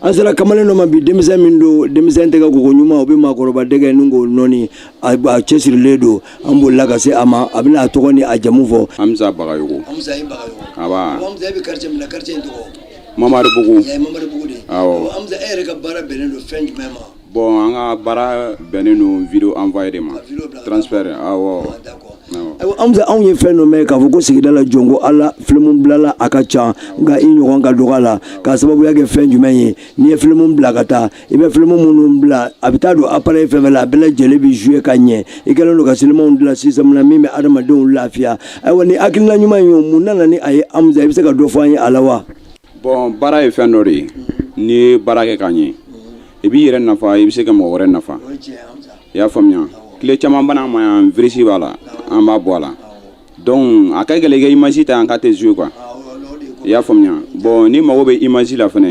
an sera kamalen dɔ ma bi denmisɛn min don denmisɛn tɛgɛ koko ɲuman o bɛ maakɔrɔba dɛgɛ mugu nɔɔni a cɛsirilen don an bolila ka se a ma a bɛna a tɔgɔ ni a jamu fɔ Hamza Bagayogo Hamza Bagayogo aba Hamza e bɛ quartier min na quartier in tɔgɔ Mamaribugu Mamaribugu de awɔ Hamza e yɛrɛ ka baara bɛnnen don fɛn jumɛn ma Bon an ka baara bɛnnen don video envoyer de ma transfert awɔ. Hamza anw ye fɛn dɔ mɛn k'a fɔ ko sigida la jɔn ko Ala film bilala a ka ca nka i ɲɔgɔn ka dɔgɔ a la k'a sababuya kɛ fɛn jumɛn ye n'i ye film bila ka taa i bɛ film minnu bila a bɛ taa don appareil fɛn o fɛn la a bɛɛ lajɛlen bɛ jouer ka ɲɛ i kɛlen don ka silimanw dilan système na min bɛ adamadenw lafiya ayiwa nin hakilina ɲuman in mun nana ni a ye Hamza i bɛ se ka dɔ fɔ an ye a la wa? Bon baara ye fɛn dɔ de ye n'i ye baara kɛ k'a ɲɛ i b'i yɛrɛ nafa i bɛ se ka mɔgɔ wɛrɛ nafa i y'a faamuya clé caman bɛ na an ma yan virus b'a la an b'a bɔ a la donc a ka gɛlɛn i ka image ta yan k'a tɛ jouer quoi i y'a faamuya bon n'i mago bɛ image la fana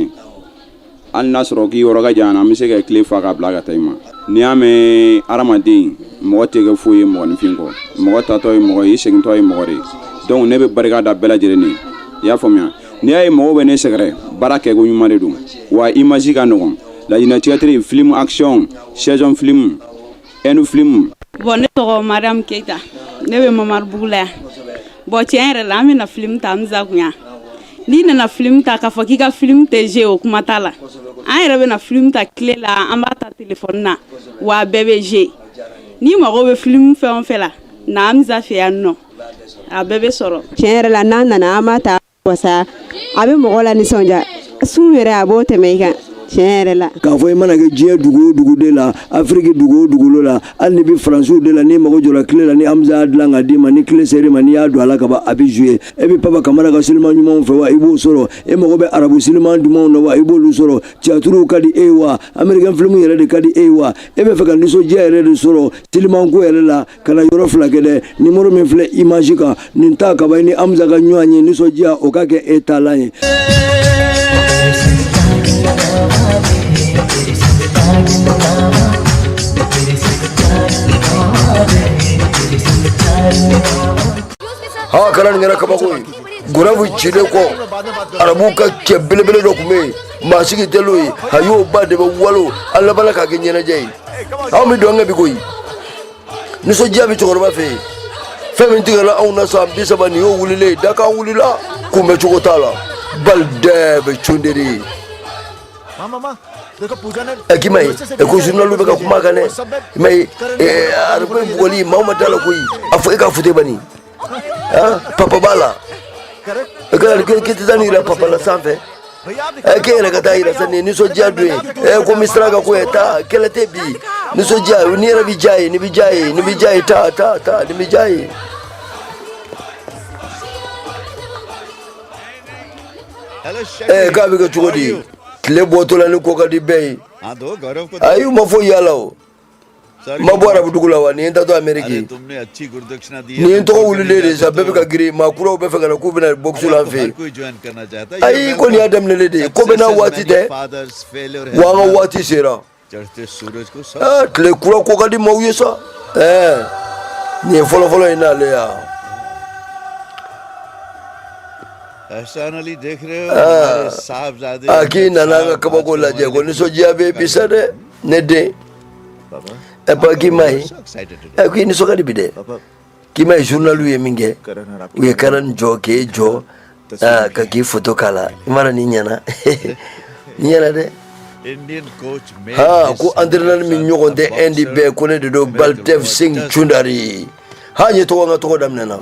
hali n'a sɔrɔ k'i yɔrɔ ka jan an bɛ se ka clé fa k'a bila ka taa i ma n'i y'a mɛn hadamaden mɔgɔ tɛ kɛ foyi ye mɔgɔninfin kɔ mɔgɔ tatɔ ye mɔgɔ ye i segintɔ ye mɔgɔ de ye donc ne bɛ barika da bɛɛ lajɛlen ye i y'a faamuya n'i y'a ye mɔgɔw bɛ ne sɛgɛrɛ baara kɛko ɲuman de don wa image ka nɔgɔn Laginɛ théâtre film action saison film hindou filimu. bon ne tɔgɔ mariam keyita ne bɛ mamaribugu la yan bon tiɲɛ yɛrɛ la an bɛna filimu ta Hamza kun yan n'i nana filimu ta k'a fɔ k'i ka filimu tɛ jouer o kuma t'a la an yɛrɛ bɛna filimu ta clé la an b'a ta telefɔni na wa a bɛɛ bɛ jouer n'i mago bɛ filimu fɛn o fɛn la na Hamza fɛ yan nɔ a bɛɛ bɛ sɔrɔ. tiɲɛ yɛrɛ la n'an nana an b'a ta wasa a bɛ mɔgɔ la nisɔndiya sun yɛrɛ a b'o tɛmɛ i kan tiɲɛ yɛrɛ la k'a fɔ i mana kɛ diɲɛ dugu o dugu de la afiriki dugu o dugukolo la hali n'i bɛ faransiw de la n'i mago jɔra clé la ni hamza y'a dilan k'a d'i ma ni clé ser'i ma n'i y'a don a la ka ban a bɛ jouer e bɛ papa kamara ka siliman ɲumanw fɛ wa i b'o sɔrɔ e mago bɛ arabu siliman dumanw na wa i b'olu sɔrɔ tiyatiriw ka di e ye wa amerikɛn filimu yɛrɛ de ka di e ye wa e bɛ fɛ ka nisɔndiya yɛrɛ de sɔrɔ silimanko yɛrɛ la kana yɔrɔ fila kɛ dɛ nimoro min filɛ image kan nin ta ka ban i ni Hamza ka ɲɔgɔn ye nisɔndiya o ka kɛ e taalan ye aa kana nin kɛra kabako ye gurabu cilen kɔ arabu ka cɛ belebele dɔ tun bɛ yen maa sigi tɛlo ye a y'o ba de bɛ walo an labanna k'a kɛ ɲɛnajɛ ye anw bɛ dɔnkɛ bi koyi nisɔndiya bɛ cɛkɔrɔba fɛ yen fɛn min tigɛla anw na san bi saba nin y'o wulilen dakan wulila kunbɛ cogo t'a la bali dɛɛ bɛ cunderi ye ɛki ma ye ko journalu bɛ ka kuma kan dɛ i ma ye ariko bugɔli maa ma da la koyi a fɔ e ka fute bani papabala kɛlɛkɛtɛtanira papa la sanfɛ ke yɛrɛ ka taa yɛrɛ sa nin nisɔndiya don ye ko min sira ka ko ye taa kɛlɛ tɛ bi nisɔndiya ni yɛrɛ bɛ diya ye ni bɛ diya ye ni bɛ diya ye taa taa taa ni bɛ diya ye ee k'a bɛ kɛ cogo di tile bɔtɔla ni ko ka di bɛɛ ye ayi u ma fɔ yala o ma bɔ arabudugu la wa nin ye n taatɔ ameriki nin ye n tɔgɔ wulilen de sa bɛɛ bɛ ka girin maa kuraw bɛ fɛ ka na k'u bɛna bɔkisi la n fɛ yen ayi ko nin y'a daminɛlen de ye ko bɛɛ n'a waati tɛ wa an ka waati sera tile kura ko ka di maaw ye sa ɛɛ nin ye fɔlɔfɔlɔ ye n'ale ya a k'i nana an ka kabako lajɛ ko nisɔndiya bɛ bi sa dɛ ne den ɛ papa k'i m'a ye ɛ k'i nisɔn ka di bi dɛ k'i m'a ye journaliw ye min kɛ u ye karan jɔ k'e jɔ ka k'i foto k'a la i mana n'i ɲɛna n'i ɲɛna dɛ ha ko entraîneur min ɲɔgɔn tɛ indi bɛɛ ko ne de don baldev singh choudhary ha n ye tɔgɔ n ka tɔgɔ daminɛna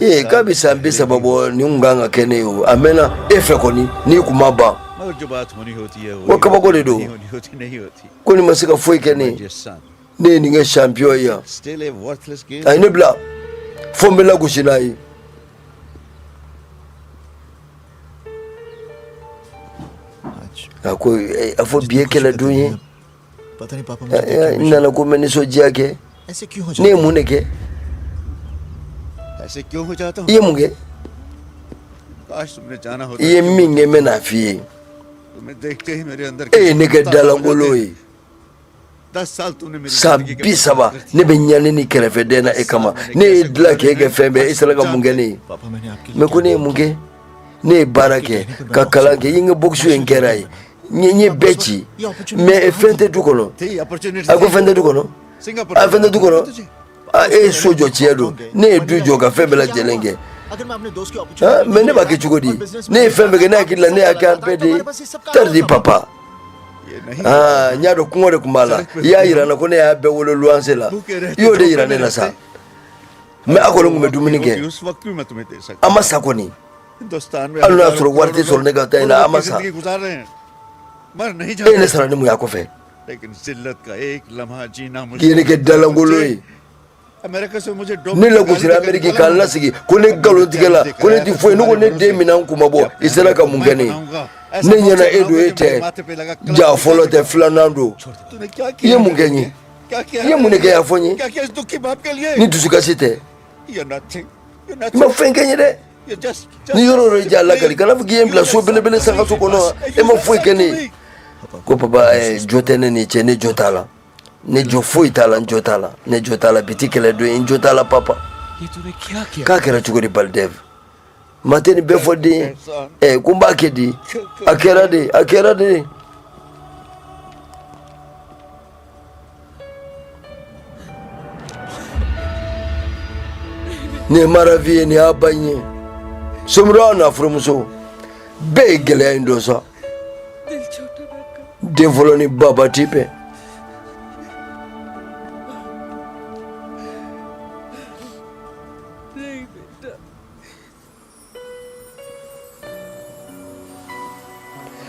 ee k'a bɛ san bi saba bɔ nin kun kan ka kɛ ne ye o a mɛnna e fɛ kɔni n'i kun ma ban ko kabako de don ko nin ma se ka foyi kɛ ne ye ne ye nin kɛ champion ye yan a ye ne bila fo n bɛ lagosi n'a ye a ko a fɔ bi ye kɛlɛ don ye n nana ko n bɛ nisɔndiya kɛ ne ye mun de kɛ i ye mun kɛ i ye min kɛ n bɛn'a f'i ye e ye ne kɛ dalankolon ye san bi saba ne bɛ ɲani ni kɛrɛfɛden na e kama ne y'e dilan k'e kɛ fɛn bɛɛ e sera ka mun kɛ ne ye mais ko ne ye mun kɛ ne ye baara kɛ ka kalan kɛ i ka bokusu in kɛra ye n ye bɛɛ ci mais fɛn tɛ du kɔnɔ a ko fɛn tɛ du kɔnɔ a fɛn tɛ du kɔnɔ e ye so jɔ tiɲɛ don ne ye du jɔ ka fɛn bɛɛ lajɛlen kɛ mais ne b'a kɛ cogo di ne ye fɛn bɛɛ kɛ ne hakili la ne y'a kɛ an bɛɛ de ye tari di papa aa n y'a dɔn kɔngɔ de tun b'a la i y'a yira n na ko ne y'a bɛɛ wolo luwanse la i y'o de yira ne na sa mais a kɔni tun bɛ dumuni kɛ an ma sa kɔni hali y'a sɔrɔ wari tɛ sɔrɔ ne ka taa in na an ma sa e ne sara ni mun y'a kɔfɛ k'i ye ne kɛ dalankolon ye ne lagosira ameriki ka n lasegin ko ne nkalontigɛla ko ne tɛ foyi ɲɛ ko ne den minɛ n kun ma bɔ i sera ka mun kɛ ne ye ne ɲɛna e don e tɛ ja fɔlɔ tɛ filanan don i ye mun kɛ n ye i ye mun de kɛ y'a fɔ n ye ni dusukasi tɛ i ma fɛn kɛ n ye dɛ ni yɔrɔ yɔrɔ ja lakali kana fɔ k'i ye n bila so belebele sankanso kɔnɔ wa e ma foyi kɛ ne ye ko papa eh, jo tɛ ne n'i cɛ ne jo t'a la ne jo foyi t'a la n jo t'a la ne jo t'a la bi tɛ kɛlɛ don ye n jo t'a la papa k'a kɛra cogo di Baldev Maa tɛ nin bɛɛ fɔ den ye ɛ ko n b'a kɛ di a kɛra di a kɛra di nin ye ma Raavi ye nin y'a ba in ye somɔgɔw n'a furumuso bɛɛ ye gɛlɛya in dɔn sa den fɔlɔ ni baba tɛ bɛn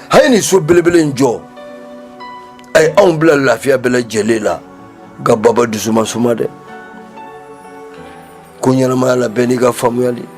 a ye nin so belebele in jɔ a ye anw bila lafiya bɛɛ lajɛlen la nka baba dusu ma suma dɛ ko ɲɛnamaya la bɛɛ n'i ka faamuyali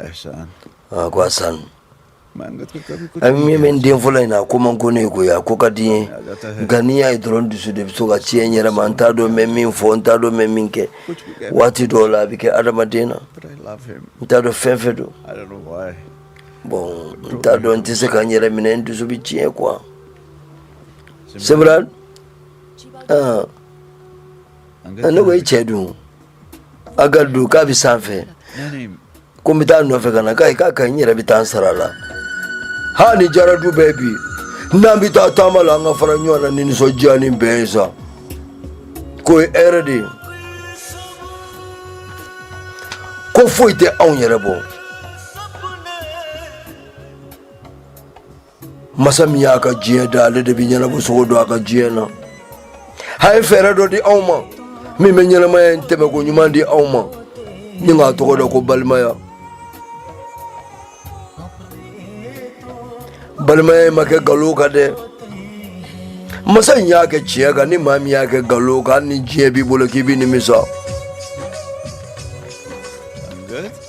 Ɛhsan. Aa ko Ɛhsan. A min bɛ n den fɔlɔ in na a ko man go ne ye koyi a ko ka di n ye nka n'i y'a ye dɔrɔn dusu de bɛ to ka tiɲɛ n yɛrɛ ma n t'a dɔn n bɛ min fɔ n t'a dɔn n bɛ min kɛ waati dɔw la a bɛ kɛ adamaden na n t'a dɔn fɛn fɛn don bon n t'a dɔn n tɛ se ka n yɛrɛ minɛ n dusu bɛ tiɲɛ quoi Simran ne ko i cɛ dun Angad dun k'a bɛ sanfɛ ko n bɛ taa nɔfɛ ka na k'ayi k'a ka ɲi n yɛrɛ bɛ taa n sara la ha ni jara du bɛɛ bi n'an bɛ taa taama la an ka fara ɲɔgɔn na ni nisɔndiya ni bɛn ye sa k'o ye hɛrɛ de ye ko foyi tɛ anw yɛrɛ bɔ masa min y'a ka diɲɛ da ale de bɛ ɲɛnabɔcogo dɔn a ka diɲɛ na a ye fɛɛrɛ dɔ di anw ma min bɛ ɲɛnamaya in tɛmɛko ɲuman di anw ma ni k'a tɔgɔ da ko balimaya balimaya in ma kɛ nkalon kan dɛ masa in y'a kɛ tiɲɛ kan ni maa min y'a kɛ nkalon kan hali ni diɲɛ b'i bolo k'i bɛ nimisa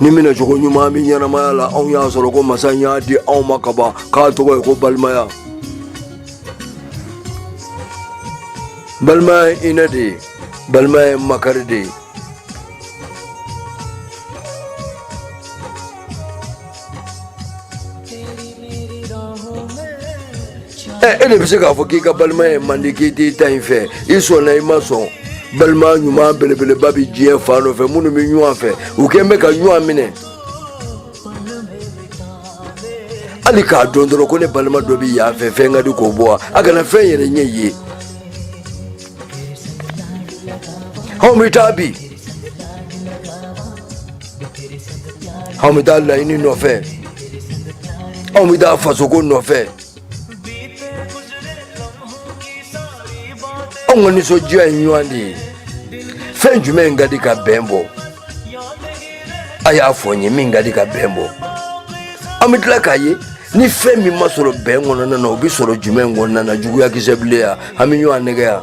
ni minɛcogo ɲuman bɛ ɲɛnamaya la anw y'a sɔrɔ ko masa in y'a di anw ma ka ban k'a tɔgɔ ye ko balimaya balimaya ye hinɛ de ye balimaya ye makari de ye e de bɛ se k'a fɔ k'i ka balimaya ye man di k'i t'i ta in fɛ i sɔnna i ma sɔn balima ɲuman belebeleba bɛ diɲɛ fan dɔ fɛ minnu bɛ ɲɔgɔn fɛ u kɛn bɛ ka ɲɔgɔn minɛ hali k'a dɔn dɔrɔn ko ne balima dɔ bɛ yan fɛ fɛn ka di k'o bɔ wa a kana fɛn yɛrɛ ɲɛ ye anw bɛ taa bi anw bɛ taa laɲini nɔfɛ anw bɛ taa fasoko nɔfɛ anw ka nisɔndiya ye ɲɔgɔn de ye fɛn jumɛn ka di ka bɛn bɔ a y'a fɔ n ye min ka di ka bɛn bɔ an bɛ tila k'a ye ni fɛn min ma sɔrɔ bɛn kɔnɔna na o bɛ sɔrɔ jumɛn kɔnɔna na juguyakisɛ bilen yan an bɛ ɲɔgɔn nɛgɛn yan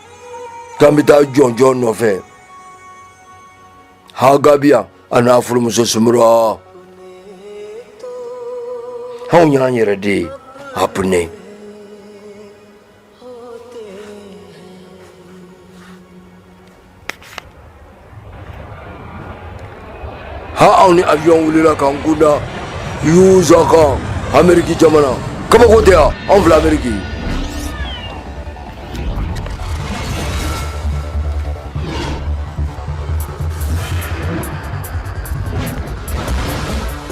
k'an bɛ taa jɔnjɔn nɔfɛ hagabiya a n'a furumuso sumura anw y'an yɛrɛ de ye apne ha anw ni avion wulila k'an kunda USA kan ameriki jamana kabako tɛ yan anw filɛ ameriki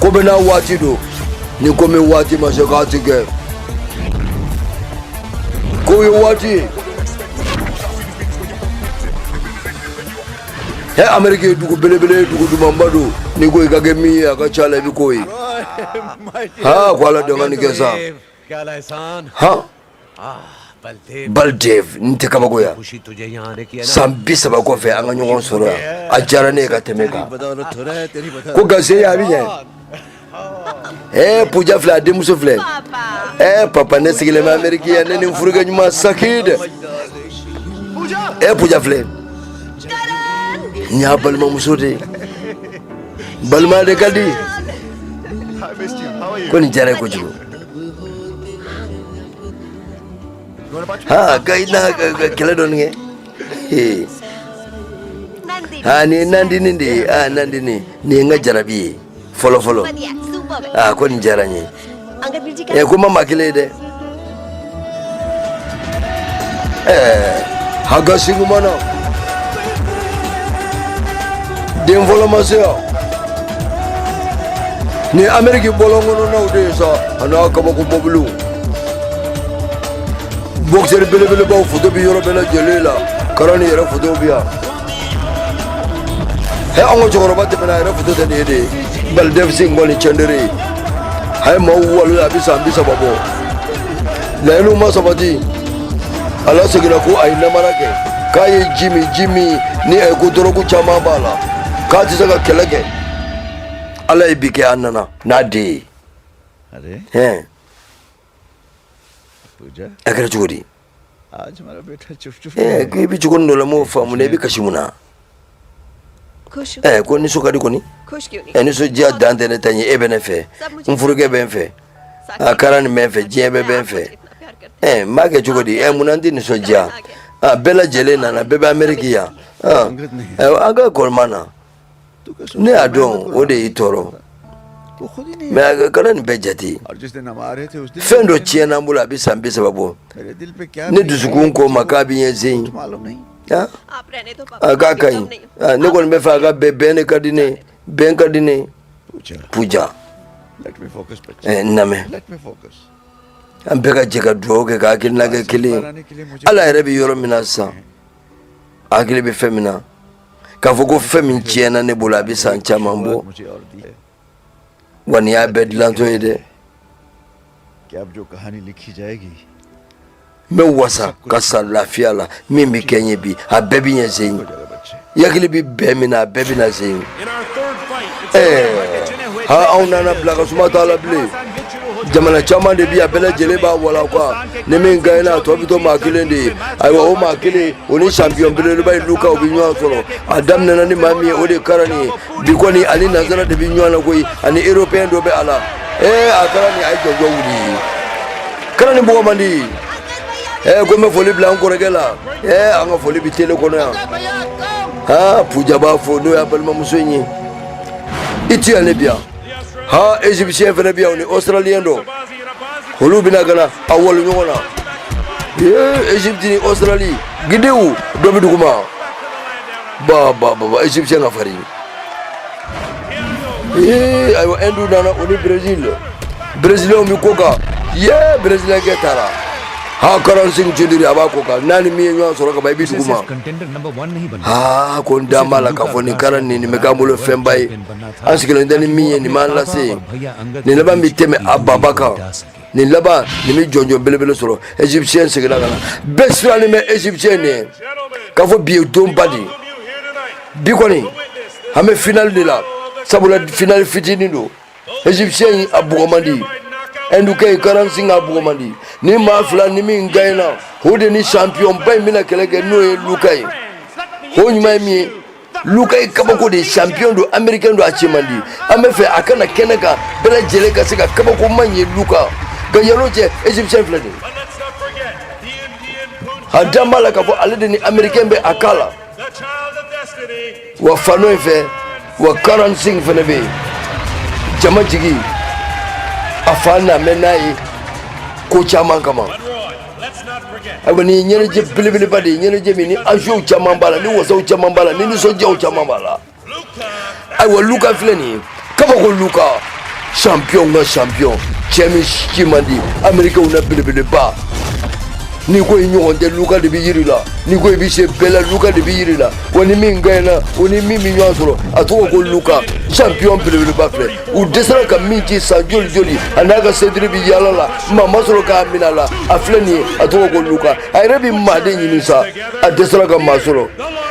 ko bɛɛ n'a waati don ni ko min waati ma se k'a ti kɛ ko ye waati ye ɛ ameriki ye dugu belebele ye dugu dumanba don n'i ko i ka kɛ min ye a ka ca la i bɛ k'o ye ha ko ala dɔngani kɛ sa ha baldev nin tɛ kabako ye san bi saba kɔfɛ an ka ɲɔgɔn sɔrɔ yan a diyara ne ye ka tɛmɛ kan ko gase a bɛ ɲɛ Ee puja filɛ a denmuso filɛ e papa ne sigilen bɛ ameriki yan ne ni n furukɛ ɲuman saki dɛ e puja filɛ n y'a balimamuso de ye balima de ka di ko nin diyara n ye kojugu haga i na kɛlɛ dɔɔni kɛ aa nin ye nandini de ye aa nandini nin ye n ka jarabi ye fɔlɔ fɔlɔ aa ko nin diyara n ye ɛ ko ma maa kelen ye dɛ ɛɛ haga singh ma na den fɔlɔ ma se yan nin ameriki bɔlɔn kɔnɔnaw de ye sa a n'a kabako mɔbiliw bɔkisɛri belebelebaw foto bi yɔrɔ bɛɛ lajɛlen la karani yɛrɛ fotow bi yan he an ka cɛkɔrɔba tɛmɛna a yɛrɛ foto tɛ nin ye de ye baldev singh kɔni choudhary ye a ye maaw walon a bɛ san bi saba bɔ laɲiniw ma sabati a laseginna ko a ye namara kɛ k'a ye ji min ji min ni a ye ko dɔrɔgu caman b'a la k'a tɛ se ka kɛlɛ kɛ ala ye bi kɛ a nana n'a den ye अरे hɛn पूजा a kɛra cogo di eh, i bɛ cogo dɔ la n m'o faamu dɛ i bɛ kasi mun na eh, ko nisɔn ka di kɔni eh, nisɔndiya dan tɛ ne ta ye e bɛ ne fɛ n furukɛ bɛ n fɛ karani bɛ n fɛ diɲɛ bɛɛ bɛ n fɛ Eh, n b'a kɛ cogo di eh, munna n tɛ nisɔndiya ah, bɛɛ lajɛlen nana bɛɛ bɛ ameriki yan ah, eh, an ka kɔrɔ ma na ne y'a dɔn o de y'i tɔɔrɔ mɛ karani bɛɛ jate fɛn dɔ tiɲɛna n bolo a bɛ san bi saba bɔ ne dusukun ko n ma k'a bɛ ɲɛ sen a k'a ka ɲi ne kɔni b'a fɛ a ka bɛn bɛn de ka di ne bɛn ka di ne puja n lamɛn an bɛɛ ka jɛ ka dugawu kɛ ka hakilina kɛ kelen ye ala yɛrɛ bɛ yɔrɔ min na sisan hakili bɛ fɛn min na k'a fɔ ko fɛn min tiɲɛna ne bolo a bɛ san caman bɔ wa nin y'a bɛɛ dilantɔ ye dɛ n bɛ wasa ka sa lafiya la min bɛ kɛ n ye bi a bɛɛ bɛ ɲɛ sen i hakili bɛ fɛn min na a bɛɛ bɛ na sen ye ɛɛ ha anw nana bila ka suma t'a la bilen jamana caman de bi a bɛɛ lajɛlen b'a walon quoi ni min gaɲɛna a tɔ bɛ to maa kelen de ye ayiwa o maa kelen o ni sanpiyɔn belebeleba ye luka o bɛ ɲɔgɔn sɔrɔ a daminɛna ni maa min ye o de ye karani ye bi kɔni ani nansara de bɛ ɲɔgɔn na koyi ani européen dɔ bɛ a la ee a karani a ye jɔjɔ wuli karani bɔgɔ man di ee ko n bɛ foli bila an kɔrɔkɛ la ee an ka foli bɛ tele kɔnɔ yan aa puja b'a fɔ n'o y'a balimamuso in ye i ti yan ne bi yan ha egyptien fana bɛ yan ni australien dɔ olu bɛna ka na a walon ɲɔgɔn na egypte ni australie gidew dɔ bɛ duguma ba ba ba ba egyptien ka farin ee ayiwa hindu nana o ni brésil brésilien bɛ ko kan ye brésilien kɛ taara ha karan singh choudhary a b'a ko kan n'a ni min ye ɲɔgɔn sɔrɔ ka ban i bɛ duguma aa ko n da b'a la k'a fɔ nin karani nin bɛ k'an bolo fɛnba ye an sigilen tɛ ni min ye nin b'an lase yen nin laban bɛ tɛmɛ a baba kan nin laban nin bɛ jɔnjɔn belebele sɔrɔ égyptien seginna ka na bɛɛ sirannen bɛ égyptien de ye k'a fɔ bi ye donba de ye bi kɔni an bɛ finali de la sabula finali fitinin don égyptien in a bugɔ man di ɛndukɛ ye karan singh a bugɔ man di ni maa fila ni min gaɲɛna o de ni champion ba in bɛna kɛlɛ kɛ n'o ye luka ye o ɲuman ye min ye luka ye kabako de champion don américain don a ci man di an bɛ fɛ a ka na kɛnɛ kan bɛɛ lajɛlen ka se ka kabako man ye luka nka yanni o cɛ égyptien filɛ nin a dalen b'a la k'a fɔ ale de ni américain bɛ a k'a la wa fan dɔ in fɛ wa karan singh fɛnɛ bɛ yen jama jigi a fana mɛn n'a ye ko caman kama ayiwa nin ye ɲɛnajɛ belebeleba de ye ɲɛnajɛ min ni enjeux caman b'a la ni wasaw caman b'a la ni nisɔndiyaw caman b'a la ayiwa luka filɛ nin ye kabako luka champion ka champion cɛ min ci man di amerikɛw na belebeleba n'i ko i ɲɔgɔn tɛ luka de b'a yira i la n'i ko i bɛ se bɛɛ la luka de b'a yira i la wa ni min gaɲɛna o ni min bɛ ɲɔgɔn sɔrɔ a tɔgɔ ko luka champion belebeleba filɛ u dɛsɛra ka min ci san joli joli a n'a ka sentiri bi yaala la maa ma sɔrɔ k'a minɛ a la a filɛ nin ye a tɔgɔ ko luka a yɛrɛ bi maa de ɲini sa a dɛsɛra ka maa sɔrɔ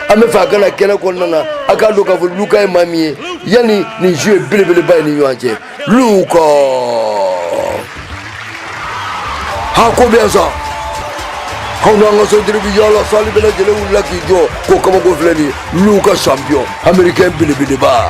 an bɛ fɛ a ka na kɛnɛ kɔnɔna na a k'a dɔn k'a fɔ luka ye maa min ye yanni nin duel belebeleba ye ni ɲɔgɔn cɛ luka ha ko bɛ yan sa a n'a ka sentiri bi yaala sali bɛɛ lajɛlen wulila k'i jɔ ko kabako filɛ nin ye luka champion américain belebeleba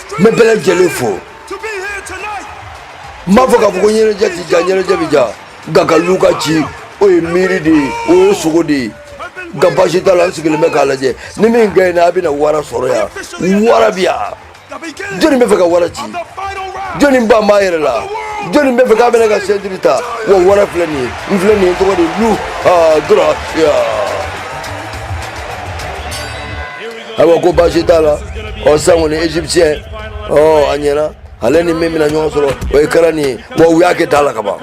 n bɛ bɛɛ lajɛlen fo n m'a fɔ k'a fɔ ko ɲɛnajɛ ti diya ɲɛnajɛ bɛ diya nka ka luka ci o ye miiri de ye o ye sugo de ye nka baasi t'a la n sigilen bɛ k'a lajɛ ni min gaɲɛna a bɛna wara sɔrɔ yan wara bɛ yan jɔnni bɛ fɛ ka wara ci jɔnni dalen b'a yɛrɛ la jɔnni bɛ fɛ k'a bɛna ka sɛntiri ta wa wara filɛ nin ye n filɛ nin ye tɔgɔ de luka gracia ayiwa ko baasi t'a la ɔ sisan kɔni égyptien ɔ a ɲɛna ale ni min bɛna ɲɔgɔn sɔrɔ o ye kɛra nin ye wa u y'a kɛ da la ka ban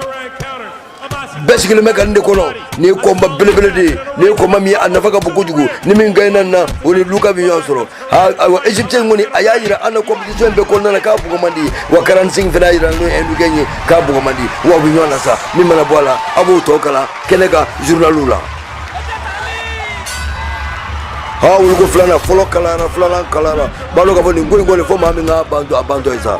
bɛɛ sigilen bɛ ka nin de kɔnɔ nin ye combat belebele de ye nin ye combat min ye a nafa ka bon kojugu ni min gaɲɛna nin na o ni luka bɛ ɲɔgɔn sɔrɔ ayiwa égyptien kɔni a y'a jira an na compétition bɛɛ kɔnɔna na k'a bugɔ man di wa karan singh fana y'a jira n'o ye ɛndukɛ in ye k'a bugɔ man di wa u bɛ ɲɔgɔn na sa min mana bɔ a la a b'o tɔ kalan kɛnɛ kan journaliw la a wuliko filanan fɔlɔ kalayara filanan kalayara b'a dɔn k'a fɔ nin ko in kɔni fo maa min k'a bantɔ a bantɔ ye sa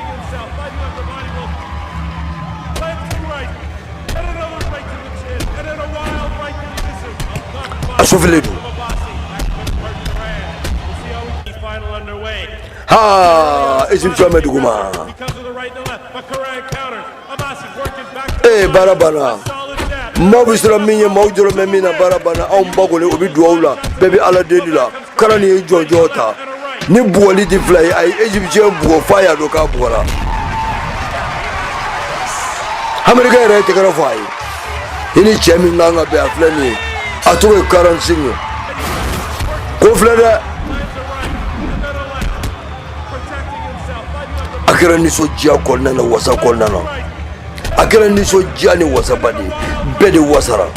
a su filɛ don haa egyptien bɛ duguma ee baara banna maaw bɛ siran min ye maaw jɔrɔ bɛ min na baara banna anw ba kɔni o bɛ dugawu la bɛɛ bɛ ala deli la karanin ye jɔnjɔn ta ni bugɔli tɛ fila ye a ye egyptien bugɔ f'a y'a dɔn k'a bugɔra americain yɛrɛ ye tɛgɛrɛ fɔ a ye i ni cɛ min kan ka bɛn a filɛ nin ye a tɔgɔ ye karansin ye ko filɛ dɛ a kɛra nisɔndiya kɔnɔna na wasa kɔnɔna na a kɛra nisɔndiya ni wasaba de bɛɛ de wasara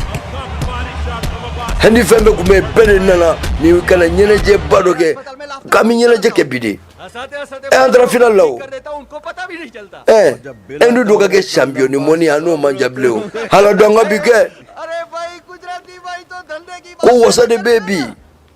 hɛndi fɛn bɛɛ tun bɛ yen bɛɛ de nana ni ka na ɲɛnajɛba dɔ kɛ k'an bɛ ɲɛnajɛ kɛ bi de ɛ an taara final la o ɛ ɛndu dɔ ka kɛ champion du monde an n'o man jan bilen o hala dɔn ka bi kɛ ko wasa de bɛ bi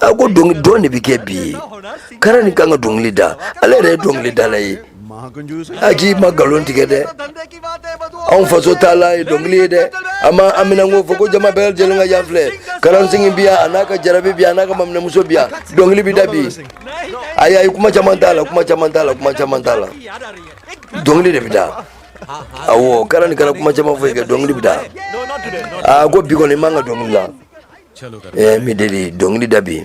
a ko dɔn de bɛ kɛ bi ye karanin kan ka dɔnkili da ale yɛrɛ ye dɔnkili dala ye a k'i ma nkalon tigɛ dɛ anw faso t'a la ye dɔnkili ye dɛ an ma an minɛn ko fɔ ko jama bɛɛ lajɛlen ka yan filɛ karansingi bi yan a n'a ka jarabi bi yan a n'a ka maminɛmuso bi yan dɔnkili bi da bi ayi ayi kuma caman t'a la kuma caman t'a la kuma caman t'a la dɔnkili de bi da awɔ karanin kana kuma caman fɔ i kɛ dɔnkili bi da a ko bi kɔni i man ka dɔnkili la ɛɛ n b'i deli dɔnkili da bi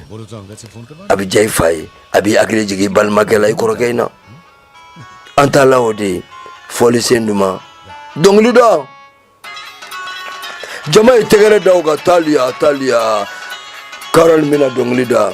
a bɛ diya i fa ye a b'i hakili jigin i balimakɛ la i kɔrɔkɛ in na an t'a la o de ye fɔlisen duman dɔnkili da jama ye tɛgɛrɛ da o kan taaliya taaliya karanin bɛna dɔnkili da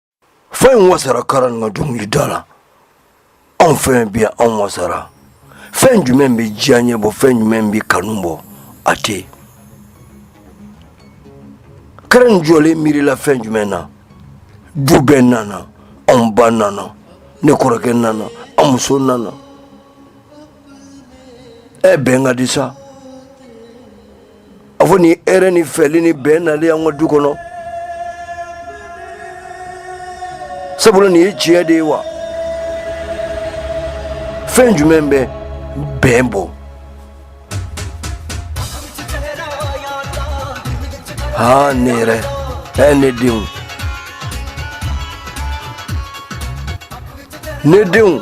fa in wasara karanin ka dɔnkili da la anw fɛn bi yan anw wasara fɛn jumɛn bɛ diya ɲɛ bɔ fɛn jumɛn bɛ kanu bɔ a tɛ yen karanin jɔlen miirila fɛn jumɛn na du bɛɛ nana anw ba nana ne kɔrɔkɛ nana an muso nana ɛ bɛn ka di sa a fɔ ni hɛrɛ ni fɛli ni bɛn nalen an ka du kɔnɔ sabula nin ye tiɲɛ de ye wa fɛn jumɛn bɛ bɛn bɔ aa ne yɛrɛ ɛ ne denw ne denw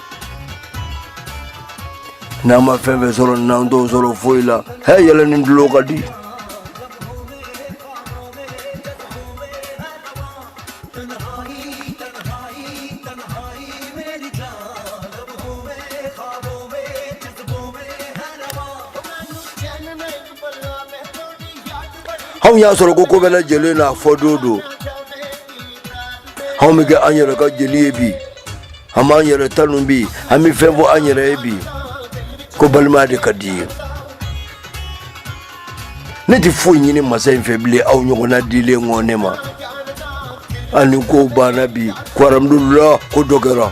n'an ma fɛn fɛn sɔrɔ n'an t'o sɔrɔ foyi la hɛ yɛlɛ ni tulon ka di anw y'a sɔrɔ ko ko bɛɛ lajɛlen n'a fɔ don don anw bɛ kɛ an yɛrɛ ka jeli ye bi An b'an yɛrɛ tanu bi an bɛ fɛn fɔ an yɛrɛ ye bi ko balimaya de ka di i ye ne tɛ foyi ɲini masa in fɛ bilen aw ɲɔgɔnna dilen kɔ ne ma ani kow banna bi ko aramdulila ko dɔ kɛra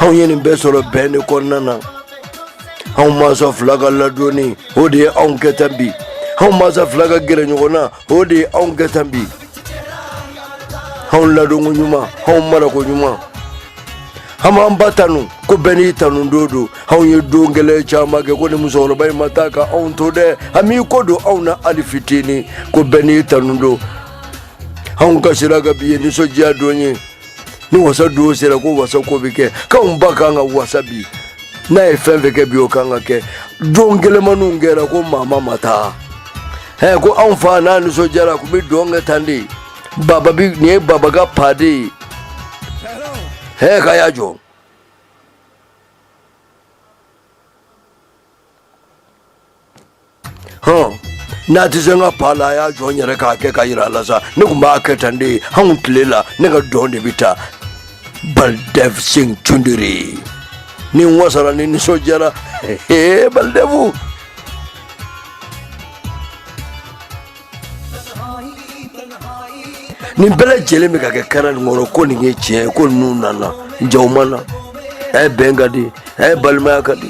anw ye nin bɛɛ sɔrɔ bɛn de kɔnɔna na anw mansa fila ka ladonni o de ye anw kɛ tan bi anw mansa fila ka gɛrɛ ɲɔgɔn na o de ye anw kɛ tan bi anw ladonko ɲuman anw marako ɲuman an b'an ba tanu ko bɛɛ n'i tanu don don anw ye don gɛlɛn caman kɛ kɔni musokɔrɔba in ma taa ka anw to dɛ a m'i kɔ don anw na hali fitini ko bɛɛ n'i tanu don anw kasira nka bi ye nisɔndiya don ye ni wasa don sera ko wasa ko bɛ kɛ k'anw ba kan ka wasa bi n'a ye fɛn fɛn kɛ bi o kan ka kɛ don gɛlɛnmaniw kɛra ko mama ma taa ɛ ko anw fa n'a nisɔndiyara a tun bɛ dɔn kɛ tan de baba bi nin ye baba ka pa de ye ɛ k'a y'a jɔ hɔn n'a tɛ se n ka pa la a y'a jɔ n yɛrɛ k'a kɛ k'a yira a la sa ne tun b'a kɛ tan de anw tile la ne ka dɔn de bɛ taa Baldev Singh Chunduri ni n wasara ni nisɔndiyara ee Baldev nin bɛɛ lajɛlen bɛ ka kɛ kɛra nin kɔrɔ ko nin ye tiɲɛ ye ko ninnu nana jaw ma na ɛ bɛn ka di ɛ balimaya ka di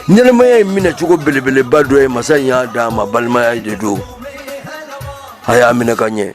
ɲɛnamaya ye minɛ cogo belebeleba dɔ ye masa in y'a d'a ma balimaya de don a y'a minɛ ka ɲɛ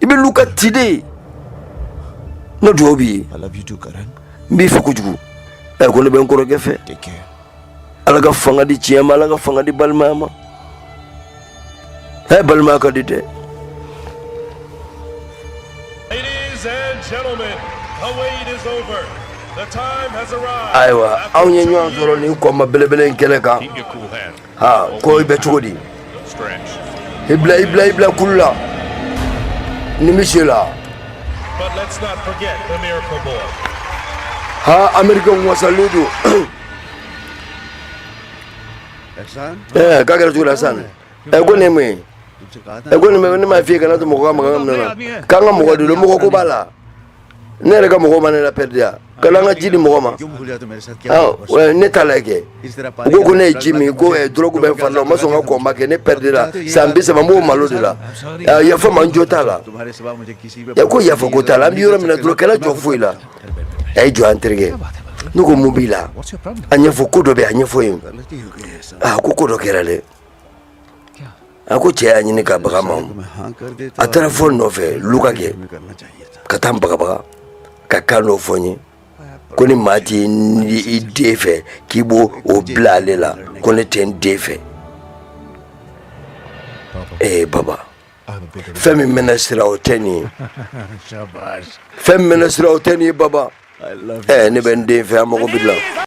i bɛ luka ci dɛ n ka dugawu b'i ye n b'i fɛ kojugu ɛ ko ne bɛ n kɔrɔkɛ fɛ ala ka fanga di tiɲɛ ma ala ka fanga di balimaya ma ɛ balimaya ka di dɛ ayiwa anw ye ɲɔgɔn sɔrɔ nin kɔnba belebele in kɛnɛ kan ha ko i bɛ cogo di i bila i bila i bila kulu la nimisi la ha amerikɛnw wasalen don ɛɛ k'a kɛra cogo di sisan ɛ ko nin ye mun ye ɛ ko nin ne m'a f'i ye kana to mɔgɔ ka maga n ka minɛn na k'an ka mɔgɔ de don mɔgɔ ko b'a la ne yɛrɛ ka mɔgɔ ma ne la pɛridi ya ka an ka ji di mɔgɔ ma ne t'a la kɛ u ko ko ne ye ji min ko dɔrɔgu bɛ n fari la o ma sɔn n ka kɔnba kɛ ne pɛridira san bi saba n b'o malo de la yafa n ma n jo t'a la e ko yafa ko t'a la an bɛ yɔrɔ min dɔrɔn kɛlɛ jɔ foyi la a ye jɔ an terikɛ ne ko mun b'i la a ɲɛfɔ ko dɔ bɛ a ɲɛfɔ n ye ko ko dɔ kɛra dɛ a ko cɛ y'a ɲini ka baga n ma a taara fɔ n nɔfɛ luka kɛ ka taa n bagabaga ka kan dɔ fɔ n ye ko ni maa tɛ i den fɛ k'i b'o bila ale la ko ne tɛ n den fɛ ee baba fɛn min mɛna sira o tɛ nin ye fɛn min mɛna sira o tɛ nin ye baba ɛɛ ne bɛ n den fɛ an mago b'i la